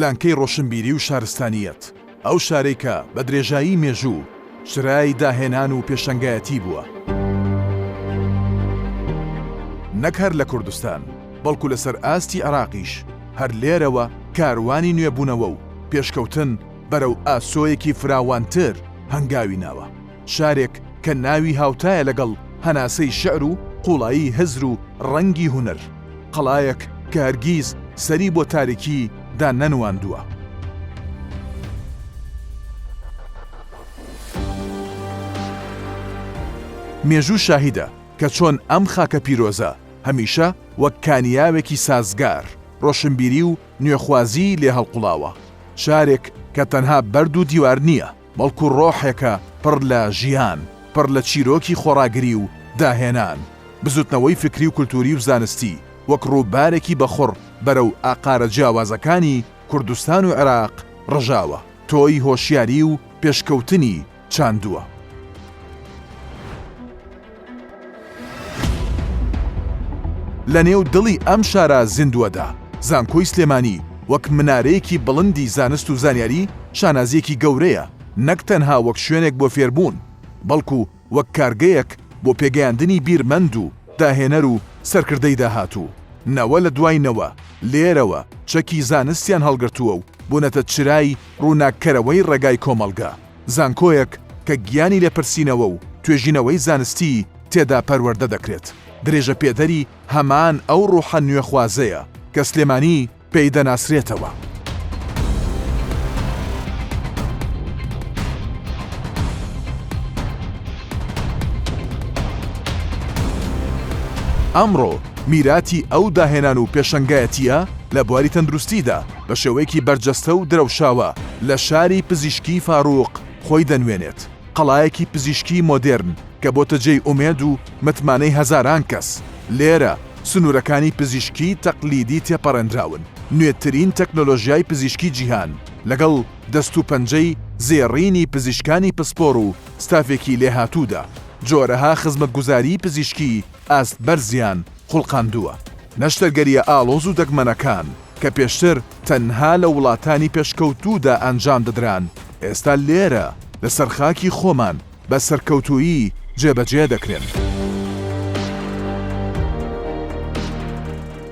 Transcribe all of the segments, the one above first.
لانکەی ڕۆشنبیری و شارستانییەت، ئەو شارەی کە بە درێژایی مێژوو چرای داهێنان و پێشەنگایەتی بووە، نەک هەر لە کوردستان، بەڵکو لەسەر ئاستی عێراقیش، هەر لێرەوە کاروانی نوێبوونەوە و پێشکەوتن بەرەو ئاسۆیەکی فراوانتر هەنگاوی ناوە. شارێک کە ناوی هاوتایە لەگەڵ هەناسەی شیعر و قووڵایی هزر و ڕەنگی هونەر، قەڵایەک کە هەرگیز سەری بۆ تاریکی دا نەنواندووە. مێژوو شاهیدە کە چۆن ئەم خاکە پیرۆزە هەمیشە وەک کانیاوێکی سازگار، ڕۆشنبیری و نوێخوازیی لێ هەڵقوڵاوە، شارێک کە تەنها بەرد و دیوار نییە، بەڵکو ڕۆحێکە پڕ لە ژیان، پڕ لە چیرۆکی خۆڕاگری و داهێنان. بزوتنەوەی فیکری و کولتووری و زانستی وەک ڕووبارێکی بەخوڕ بەرەو ئاقارە جیاوازەکانی کوردستان و عێراق ڕژاوە، تۆوی هۆشیاری و پێشکەوتنی چاندووە. لە نێو دڵی ئەم شارە زیندووەدا، زانکۆی سلێمانی وەک منارەیەکی بڵندی زانست و زانیاری شانازییەکی گەورەیە، نەک تەنها وەک شوێنێک بۆ فێربوون، بەڵکو وەک کارگەیەک بۆ پێگەیاندنی بیرمەند و داهێنەر و سەرکردەی داهاتوو، نەوە لە دوای نەوە لێرەوە چەکی زانستیان هەڵگرتووە و بوونەتە چرای ڕووناککەرەوەی ڕێگای کۆمەڵگە. زانکۆیەک کە گیانی لێپرسینەوە و توێژینەوەی زانستی تێدا پەروەردە دەکرێت، درێژەپێدەری هەمان ئەو ڕۆحە نوێخوازەیە کە سلێمانی پێی دەناسرێتەوە. ئەمڕۆ میراتی ئەو داهێنان و پێشەنگایەتییە لە بواری تەندروستیدا، بە شێوەیەکی بەرجەستە و درەوشاوە لە شاری پزیشکی فاروق خۆی دەنوێنێت، قەڵایەکی پزیشکی مۆدێرن کە بۆتە جێی ئومێد و متمانەی هەزاران کەس، لێرە سنوورەکانی پزیشکی تەقلیدی تێپەڕێنراون، نوێترین تەکنۆلۆژیای پزیشکی جیهان لەگەڵ دەست و پەنجەی زێڕینی پزیشکانی پسپۆڕ و ستافێکی لێهاتوودا، جۆرەها خزمەتگوزاریی پزیشکی ئاست بەرزیان خوڵقاندووە، نەشتەرگەرییە ئاڵۆز و دەگمەنەکان کە پێشتر تەنها لە وڵاتانی پێشکەوتوودا ئەنجام دەدران، ئێستا لێرە لەسەر خاکی خۆمان بە سەرکەوتوویی جێبەجێ دەکرێن.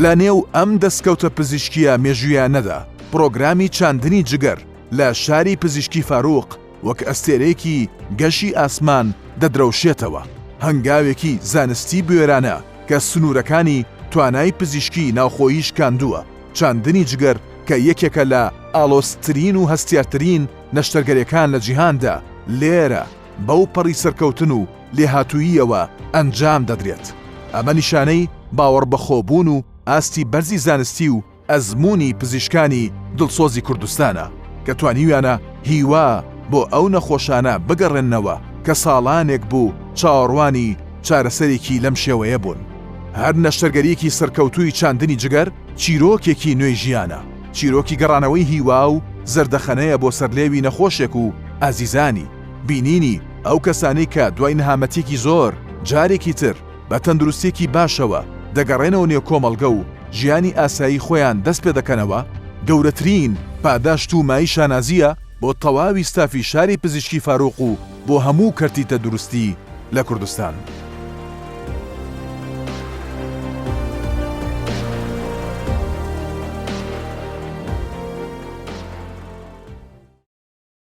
لە نێو ئەم دەستکەوتە پزیشکییە مێژووییانەدا، پرۆگرامی چاندنی جگەر لە شاری پزیشکی فاروق، وەک ئەستێرەیەکی گەشی ئاسمان دەدرەوشێتەوە، هەنگاوێکی زانستی بوێرانە کە سنوورەکانی توانای پزیشکی ناوخۆیی شکاندووە، چاندنی جگەر کە یەکێکە لە ئاڵۆزترین و هەستیارترین نەشتەرگەریەکان لە جیهاندا، لێرە بەو پەڕی سەرکەوتن و لێهاتووییەوە ئەنجام دەدرێت، ئەمە نیشانەی باوەڕبەخۆبوون و ئاستی بەرزی زانستی و ئەزموونی پزیشکانی دڵسۆزی کوردستانە کە توانیویانە هیوا بۆ ئەو نەخۆشانە بگەڕێننەوە کە ساڵانێک بوو چاوەڕوانی چارەسەرێکی لەم شێوەیە بوون. هەر نەشتەرگەرییەکی سەرکەوتووی چاندنی جگەر چیرۆکێکی نوێی ژیانە، چیرۆکی گەڕانەوەی هیوا و زەردەخەنەیە بۆ سەرلێوی نەخۆشێک و ئازیزانی، بینینی ئەو کەسانەی کە دوای نەهامەتییەکی زۆر جارێکی تر بە تەندروستیەکی باشەوە دەگەڕێنەوە نێو کۆمەڵگە و ژیانی ئاسایی خۆیان دەست پێ دەکەنەوە، گەورەترین پاداشت و مایەی شانازییە بۆ تەواوی ستافی شاری پزیشکی فاروق و بۆ هەموو کەرتی تەدروستی لە کوردستان.